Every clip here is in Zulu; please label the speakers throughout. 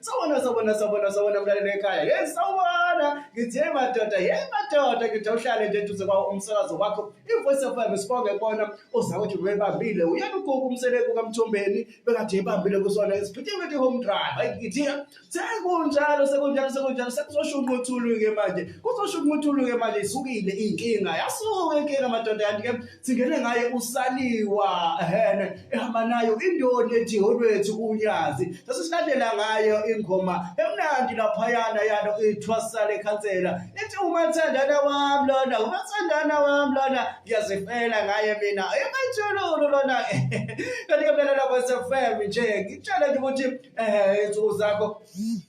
Speaker 1: Sawona sawona sawona sawona mlalelo ekhaya. Hey sawona ngithe madoda hey madoda ngithi uhlale nje duze kwawo umsakazo wakho. Ivoice of FM sibonge bona uzakuthi webambile uyena ugugu umseleku kaMthombeni bekade ebambile kusona isiphithe ukuthi home drive. Hayi ngithi sekunjalo sekunjalo sekunjalo sekuzoshunqa uthulu ke manje. Kuzoshunqa uthulu ke manje isukile inkinga. Yasuka inkinga madoda kanti ke singene ngaye usaliwa ehene ehamba nayo indoni ethi holwethu kunyazi sase silandela ngayo ingoma emnandi laphayana yalo ithwasale khansela ethi umathandana wami lona umathandana wami lona ngiyazifela ngaye mina ematshululu lona kanti-ke mina lapho sefm nje ngitshele nje ukuthi um insuku zakho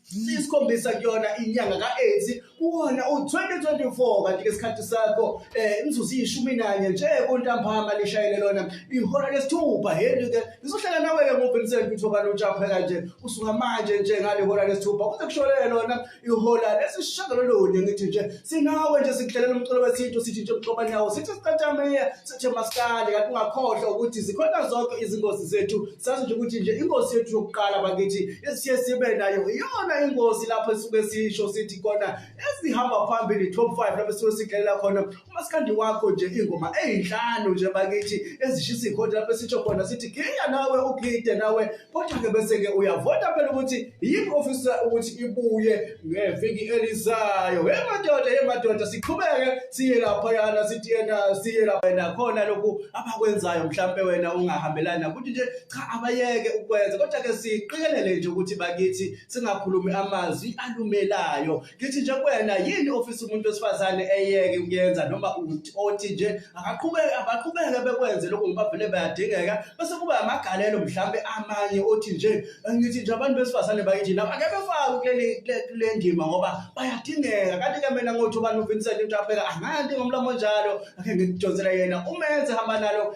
Speaker 1: siyisikhombisa kuyona inyanga ka-eighty kuwona u-2024 kanti-ke isikhathi sakho um eh, imzuzu iyishumi nanye nje kuntambama lishayele lona ihora lesithupha heli-ke ngizohlala nawe-ke ngovincent kuthobani utshapheka nje usuka manje nje ngale hora lesithupha kuze kusholele lona ihora lesishagalolunye ngithi nje sinawe nje sikuhlalela umculo wesintu sithi nje mxoba nawo sithi siqathameye Sithe maskandi kanti ungakhohlwa ukuthi zikhona zonke izingozi zethu sazi nje ukuthi nje ingozi yethu yokuqala bakithi esiye sibe nayo iyona ingozi lapho esuke sisho sithi khona esihamba phambili top 5 lapho esuke sidlalela khona umaskandi wakho nje ingoma ezinhlanu nje bakithi ezishisa ikhodi lapho sisho khona sithi giya nawe ugide nawe kodwa ke bese ke uyavota phela ukuthi yini ofisa ukuthi ibuye ngeviki elizayo he madoda he madoda siqhubeke siye lapha yana sithi yena siye lapha yena khona lokhu abakwenzayo mhlambe wena ungahambelana ukuthi nje cha abayeke ukwenza kodwa ke siqikelele nje ukuthi bakithi singakhulumi amazwi alumelayo ngithi nje kuwena yini ofisa umuntu wesifazane eyeke ukuyenza noma othi nje akaqhubeke abaqhubeke bekwenze lokho ngoba vele bayadingeka bese kuba amagalelo mhlambe amanye othi nje ngithi nje abantu besifazane bakithi nabo ake befake kuleli kule ndima ngoba bayadingeka kanti ke mina ngothi ubani uVincent into apheka angandi ngomlomo njalo ake ngikudonsela yena umenze hamba nalo